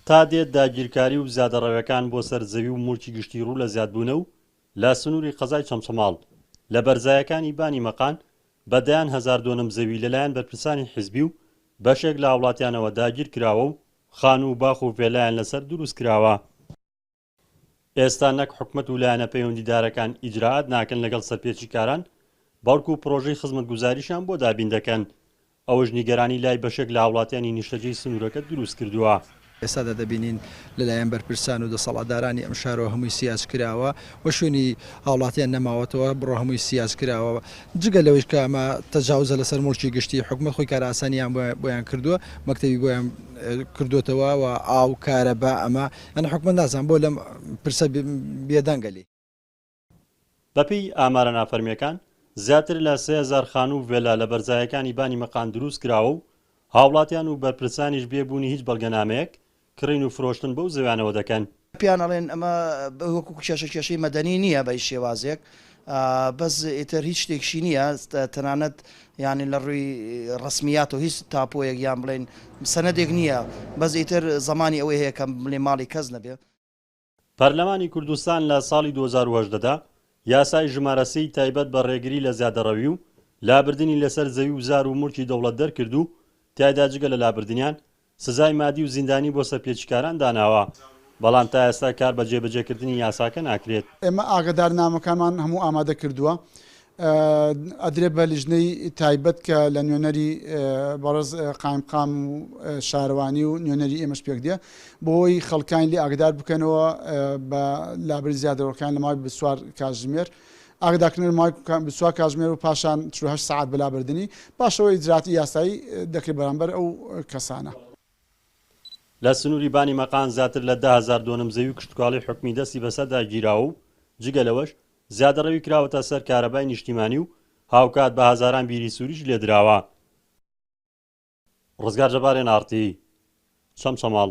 تا دێت داگیرکاری و زیادەڕەوێکان بۆ سەر زەوی و موڵکی گشتی ڕوو لە زیادبوونە و لە سنووری قەزای چەمچەماڵ لە بەرزایەکانی بانی مەقان بە دەیان هەزار دۆنم زەوی لەلایەن بەرپرسانی حیزبی و بەشێک لە هاوڵاتیانەوە داگیرکراوە و خانوو و باخ و ڤێلایان لەسەر دروستکراوە. ئێستا نەک حکومەت و لایەنە پەیوەندیدارەکان ئیجرائات ناکەن لەگەڵ سەرپێچیکاران، بەڵکو پرۆژەی خزمەتگوزاریشیان بۆ دابین دەکەن، ئەوەش نیگەرانی لای بەشێک لە هاوڵاتیانی نیشتەجێی سنوورەکە دروستکردووە. ئێستادا دەبینین لەلایەن بەرپرسان و دەسەڵاتدارانی ئەم شارەوە هەمووی سیاجکراوە و شوێنی هاوڵاتیان نەماوەتەوە، بڕۆ هەمووی سیاجکراوە، جگە لەوەیش کە ئەمە تەجاوزە لەسەر موڵکی گشتی، حکومەت خۆی کارئاسانیان بۆیان کردووە، مەکتەبی بۆیان کردۆتەوە و ئاو، کارەبا، ئەمە من حوکمە نازانم بۆ لەم پرسە بێدەنگە لێی. بەپێی ئامارە نافەرمییەکان، زیاتر لە سێ هەزار خانوو و ڤێلا لە بەرزایەکانی بانی مەقان دروست کراوە و هاوڵاتیان و بەرپرسانیش بێ بوونی هیچ بەڵگەنامەیەک، کڕین و فرۆشتن بەو زەویانەوە دەکەن. پێیان ئەڵێن ئەمە وەکو کێشە کێشەی مەدەنی نییە بە هیچ شێوازێک، بەس ئیتر هیچ شتێکشی نییە تەنانەت یانی لە ڕووی ڕسمیاتەوە هیچ تاپۆیەک یان بڵێن سەنەدێک نییە بەس ئیتر زەمانی ئەوەی هەیە کە بڵێ ماڵی کەس نەبێ. پەرلەمانی کوردستان لە ساڵی دوو هەزار و هەژدە دا یاسای ژمارە سێی تایبەت بە ڕێگری لە زیادەڕەوی و لابردنی لەسەر زەوی و زار و مولکی دەوڵەت دەرکرد و تیایدا جگە لە لابردنیان سزای مادی و زیندانی بۆ سەرپێچیکاران داناوە، بەڵام تا ئێستا کار بە جێبەجێکردنی یاساکە ناکرێت. ئێمە ئاگادارنامەکانمان هەموو ئامادە کردووە، ئەدرێت بە لیژنەی تایبەت کە لە نوێنەری بەڕێز قایمقام و شارەوانی و نوێنەری ئێمەش پێک دێ بۆی خەڵکانی لێ ئاگدار بکەنەوە بە لابەری زیادەرۆکان لە ماوەی بیست و چوار کاتژمێر. ئاگاداکردنەوەی ماوەی بیست و چوار کاتژمێر و پاشان چل و هەشت سەعات بە لابردنی، پاش ئەوە ئیجراتی یاسایی دەکرێت بەرامبەر ئەو کەسانە. لە سنووری بانی مەقان زیاتر لە دە هەزار دۆنم زەوی و کشتوکاڵی حکومی دەستی بەسەردا گیراوە و جگە لەوەش زیادەڕەوی کراوەتە سەر کارەبای نیشتیمانی و هاوکات بە هەزاران بیری سووریش لێدراوە. ڕزگار جەبارێن ئاڕتی چەمچەماڵ.